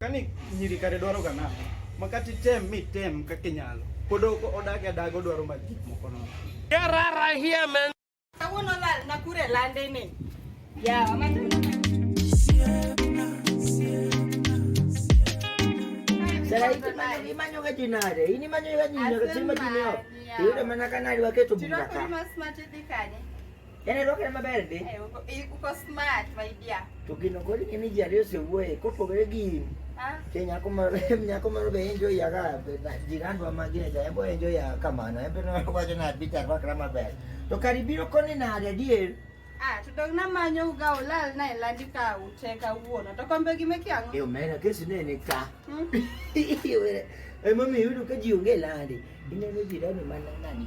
Kani nyiri kare dwaro ga nang'o? Ma kata item mitem kaka inyalo. Pod ok odag adaga odwaro mag gik moko nono. Kawuono lal Nakuru e lande ni. Yeah, ama Sara iti mani imanyo ga jinare, ini manyo ga jinare, tima jinio. Iyudo mana kanari waketo Tiro bunda ka. kuri mas mati dhi kanye. Yaani roho na maber ndi. Eh, uko eh, uko smart my dear. To gino kodi ni miji ariyo se wuoye kopogore gi ah. Ke nyako moro nyako moro be enjoy ya ga jirandwa magine ja embo enjoy ya kamano embe no wacho na bitar wakra maber. To kari biro koni na adier. Ah, to dog na manyo uga ulal na elandi ka uteka uono. To kombe gi meki ango? Yo mera kesi ne ni ka. Hmm? Yo mera. E mami yudo ka ji onge landi. Ineno jirani mana nani?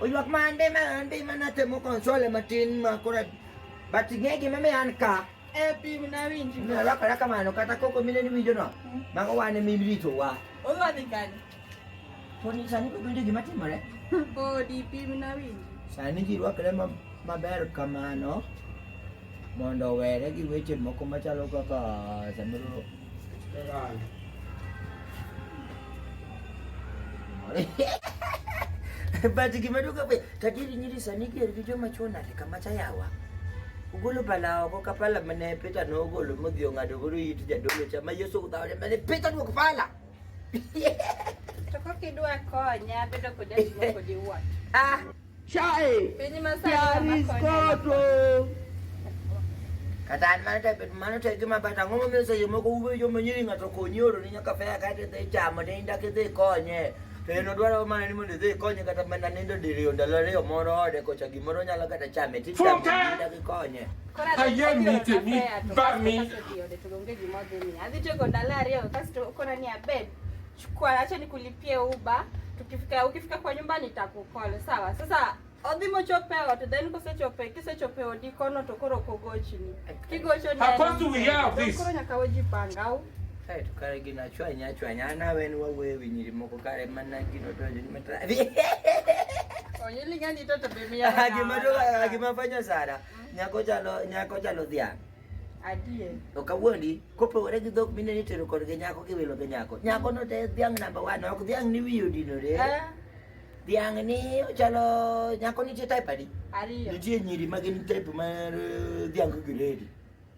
Oywak man be ma an be mana temo konsole matin ma kora but ing'e gima miyo an ka e pi na winji na rakora kamano kata koko mine ni winjo no hmm. mago wane min rito wa odwa dhi kanye poni sani ko winjo gima timore podi pi na winji sani ji rwakre maber kamano mondo owere gi weche moko machalo kaka samoro but gima duka be tajiri nyiri sani ger gi joma chwo nade kama cha yawa ugolo pala oko ka pala mane Peter nogolo modhi ong'ado godo it jadolo cha ma Yesu udhawre mane Peter duok pala to kokidwa konya bedo kod jatimo kodi wuon ah Chae. Piny Masai. Yaris koto. Kata an mano to bet mano to e gima bata ang'o momiyo seche moko uwe joma nyiri ng'ato konyi oro ni nyaka fea kata idhi chamo ne indak idhi konye. To en odwaro mana ni mondo idhi konye kata mana nindo diriyo ndalo ariyo moro ode kocha gimoro nyalo kata chame ti chamo Futa! ni indak ikonye. Kora Ayie adhi tero miti mi, kafea to bami. kasto odhi ode to onge gima odhi miya. Adhi tieko ndalo ariyo kasto okona ni abed. Chukua, acha nikulipie uba. Tukifika ukifika kwa nyumba nitakukole. Sawa. Sasa odhimo chope ot then kose chope kise chope odi kono to koro kogochini. Kigocho ni. How come do we have this? Koro nyaka weji pangau. Kae to kare gina chwanya chwanya ana wen wawe winyiri moko kare mana gino to ni matra. Onyili ngani to to bimia. Gima to gima fanya sana. Mm. Nyako chalo nyako chalo dhiang'. Adier. To kawuondi, kopogore gi dhok mine ni tero kodgi nyako gi wilo gi nyako. Nyako no te dhiang' namba one, ok dhiang' ni wiye odinore. Eh? Dhiang' ni ochalo nyako nitie type adi? Ariyo. Nitie nyiri ma gin type mar eh, dhiang' gi gredi.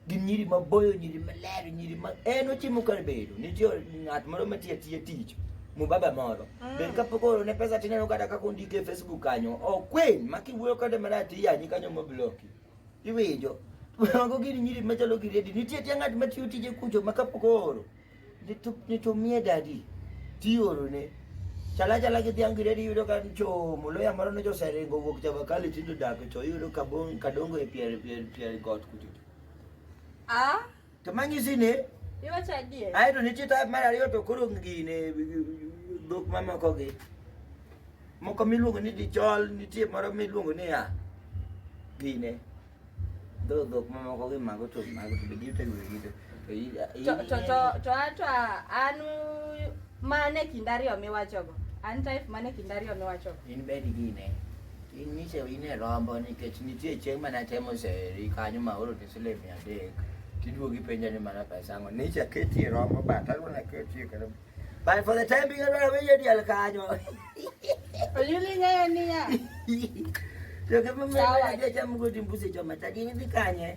Gin nyiri maboyo, nyiri maler, nyiri ma en ochimo kar bedo. Nitie ng'at moro matiyo atiya tich. Mubaba moro. Mm. Ben kapok oro ne pesa tineno kata kaka ondike e Facebook kanyo. Okwen, makiwuoyo kode marach iyanyi kanyo mobloki. Iwinjo? Mago gin nyiri machalo gi redi. Nitie tie ng'at matiyo tije kucho ma kapok ooro. Nitumie dadi. Tioro ne. Chala chala gi dhiang' gi redi yudo ka chomo. Loya moro ne joseringo wuok Chavakali tindo dak to yudo kabong kadongo e pier pier pier got kucho. Ah. To manyi sini. Iwacho adier. Ae to nitie type mar ariyo to koro gine dhok mamoko gi. Moko miluongo ni dichol, nitie moro miluongo ni ya. Gine. Dho dhok mamoko gi mago to mago to bigi to yugi to. To to to to ato anu mane kindari omiwachogo. An type mane kindari omiwachogo. In bedi gine. Inyise ine rombo nikech nitie chieng' mana temo seri kanyo ma oro tisile mia adek tiduogo ipenja ni mana pesa ang'o nicha ketie rombo bat agona ketie kata but for the time being adwaro winjo diel kanyo Oyuli ng'eyo niya. to kama Sawa. mwana jacham godi mbusi choma tadi ni kanye